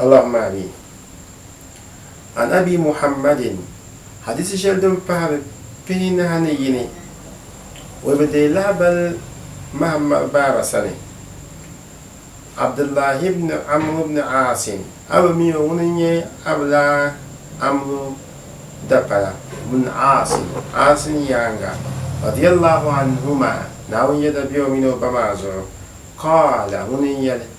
Allahu maa mi. An Abi Muhammadin, Hadiisi shɛli din pahiri pihinahi ni yini, o bi deei lahabal Mahammad baaba sani, Abdullahi ibn Amru ibn Aasin. A bi mi o ŋuni n-nyɛ Abulaa Amru dapala, ibn Aasin, Aasin yaaŋa, radiyallahu anhuma, Naawuni yɛda be o mini o ba maa zuɣu, qaala, ŋuni n-yɛli,